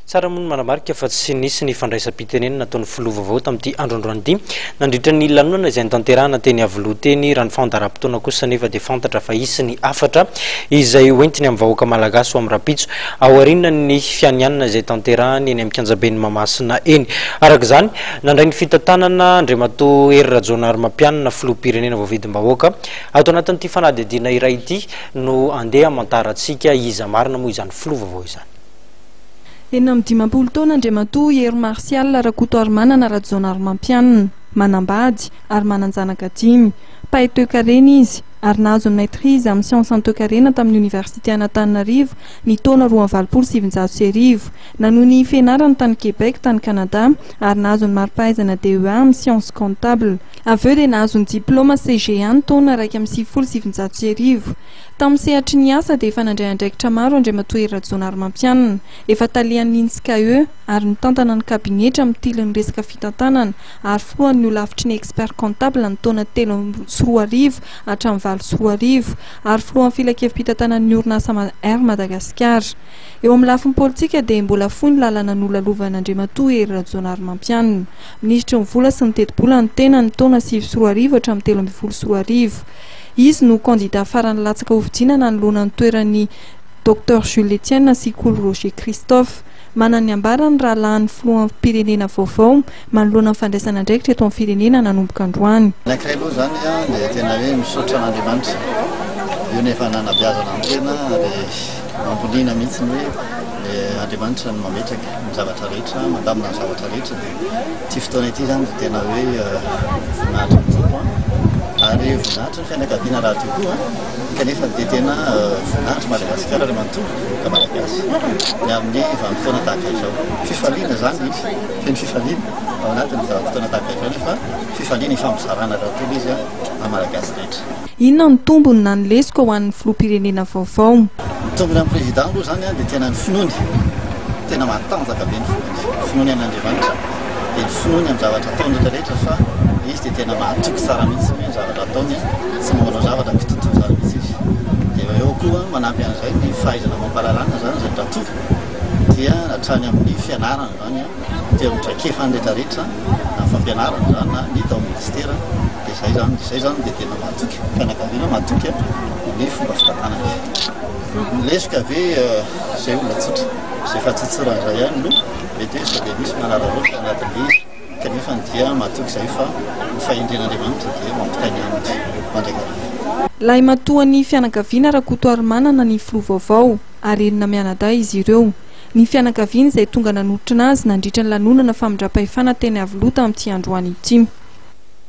Tsara moa ny manamarika fa tsy nisy ny fandraisam-pitenenana ataon'ny filoha vaovao tamin'ity andro androany ity nandritra ny lanonana izay notanterahana teny Iavoloha teny, raha ny fandaharam-potoana kosa anefa dia fantatra fa hisy ny hafatra izay hoentiny amin'ny vahoaka malagasy ho amin'ny rahampitso aorianan'ny fianianana izay tanterahany eny amin'ny kianjaben'i Mahamasina eny. Araka izany, nandray ny fitantanana Andriamatoa Hery Rajaonarimampianina, filoham-pirenena voavidim-bahoaka. Ato anatin'ity fanadihadiana iray ity no handeha hamantarantsika iza marina moa izany filoha vaovao izany. Enina amby dimampolo taona Andriamatoa Hery Martial Rakotoarimanana Rajaonarimampianina, manambady, ary manan-janaka dimy. Mpahay toekarena izy, ary nahazo ny maîtrise amin'ny siansan'ny toekarena tamin'ny Oniversite an'Antananarivo ny taona roa amby valopolo sy sivinjato sy arivo. Nanohy ny fianarany tany Québec, tany Canada, ary nahazo ny mari-pahaizana DEA amin'ny siansa comptable. Avy eo dia nahazo ny diplaoma CGA ny taona iraika amby sivifolo sy sivinjato sy arivo. Tamin'ny sehatry ny asa dia efa nandray andraikitra maro Andriamatoa Hery Rajaonarimampianina, efa talian'ny Intscae ary mitantana ny kabinetra mitily ny resaka fitantanana ary filohan'ny holafitry ny Experts comptables ny taona telo amby sy roa arivo hatramin'ny valo sy roa arivo ary filohan'ny filankevi-pitantanan'ny orinasa Air Madagasikara. Eo amin'ny lafiny politika dia mbola fohy ny lalana nolalovan'Andriamatoa Hery Rajaonarimampianina, minisitry ny Vola sy ny Tetibola ny tenany ny taona sivy sy roa arivo hatramin'ny telo ambin'ny folo sy roa arivo. Izy no kandida farany latsaka hofidiana nanoloana ny toeran'i Docteur Jules Etienne sy Kolo Roger Christophe. Manana ny ambara ny rahalahin'ny filoham-pirenena vaovao manoloana ny fandraisana andraikitra eto amin'ny firenena nanomboka androany. Ny ankiray aloha izany dia tena hoe misaotra an'Andriamanitra, io ny efa nanabeazana ny tena ary mampiliana mihitsy ny hoe Andriamanitra no mametraka ny zavatra rehetra, mandamina ny zavatra rehetra. ity fotoana ity izany dia tena hoe voninahitra ny Tompo an! ary voninahitra ny fianakaviana raha teo koa an! kanefa dia tena voninahitra Madagasikara ry manontolo ny vahoaka Malagasy ny amin'ny vanim-potoana tahaka izao fifaliana izany misy feno fifaliana ao anatin'ny vanim-potoana tahaka izao nefa fifaliana ifampizarana daholo izy an! amin'ny Malagasy rehetra. Inona no tombony na ny lesoka ho an'ny filoham-pirenena vaovao? Ny tombony amin'ny Président aloha izany dia tena ny finoany, tena matanjaka be ny finoany, ny finoany amin'Andriamanitra, dia ny finoany amin'ny zavatra ataony rehetra rehetra fa izy dia tena mahatoky tsara mihintsy ny zavatra ataony, tsy mba manao zavatra kitotoa izany mihintsy izy. Dia eo koa manampy an'izay ny fahaizana mampalalana izany izay mba toky dia hatrany amin'ny fianarana izany. aty amin'ny traikefa ny rehetra rehetra na ny fampianarana izany na ny tao minisitera dia izay izany izay izany dia tena mahatoky ny fianakaviana mahatoky ny fomba fitantanana ny lesoka ve izay olona tsotra izay fatsotsorana izay ihany no mety hoe sao dia misy manararaotra anatin'ilay izy kanefa ny dia mahatoky izay fa ny fahendren'andriamanitra dia mampitainy aminy mandrakariva Lahimatoan'ny fianakaviana Rakotoarimanana ny filoha vaovao, ary enina mianadahy izy ireo. ny fianakaviany izay tonga nanotrona azy nandritra ny lanonana famindram-pahefana teny Iavoloha tamin'ity androany ity.